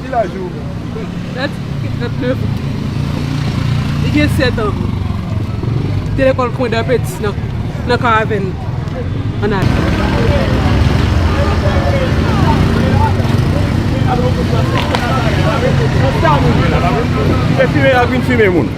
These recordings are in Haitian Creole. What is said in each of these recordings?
Ki laj ou? Dad gen 39 an. Li gen 7 an. Li te lekòl Pwen dè Peti nan Karavèn an Ayiti. Kite fime ak vin fime moun.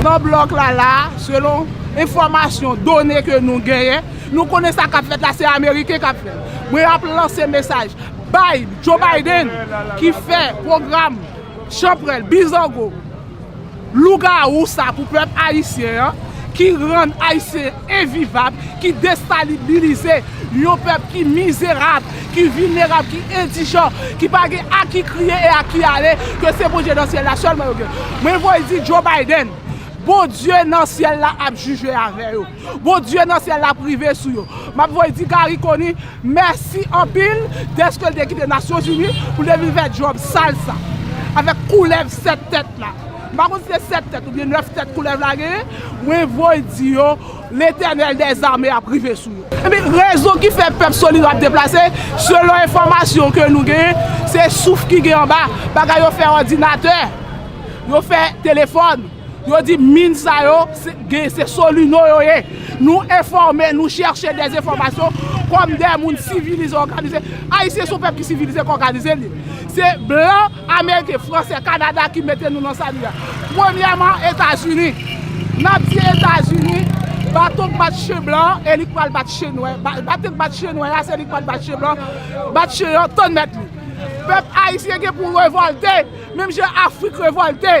Nan blòk la la, selon enfòmasyon, done ke nou genyen, nou konnen sa kap fèt la se ameriken kap fèl. Mwen ap lanse mesaj bay Joe Biden ki fè pwogram chanprèl, bizango. Lougawou sa pou pèp ayisyen an ki rann ayisyen envivab, ki destalibilize yon pèp ki mizerab, ki vilnerab, ki endijan, ki pa gen a ki kriye e a ki ale, ke se Bondye nan syèl la sèlman yo gen. Mwen voye di Joe Biden, Bondye nan syèl la ap jije avè yo. Bondye nan syèl la ap rive sou yo. M ap voye di Garry Conille mèsi anpil dèske l te kite Nasyonzini pou l te vin fè djòb sal sa avèk koulèv sèt tèt la. M pa konn si se sèt tèt oubyen nèf tèt koulèv la genyen. Mwen voye di yo Letènèl dè zame ap rive sou yo. Epi rezon ki fè pèp Solid yo ap deplase, selon enfòmasyon ke nou genyen, se souf ki gen anba. Bagay yo fè òdinatè, yo fè telefòn. Yo di min sa yo gen se solino yo ye. Nou enfòme, nou chèche de enfòmasyon kòm de moun sivilize, òganize. Ayisyen se yon pèp ki sivilize, ki òganize li. Se blan, ameriken, fransè, kanada ki mete nou nan sa nou ye a. Premyèman, Etazini. N ap di Etazini, baton k bat chen blan an, e li k pral bat chen nwè. Baton k bat chen nwè a, se li k pral bat chen blan an. Bat chen an, tann mèt li. Pèp ayisyen gen pou revòlte, menm jan Afrik revòlte.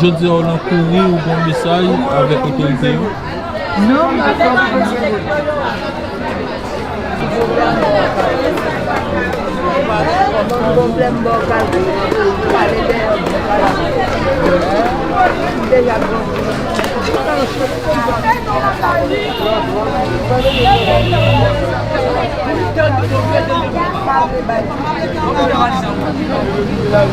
Jodi a ou nan kouri ou gon mesaj avèk otorite yo? Non m pa fè sa.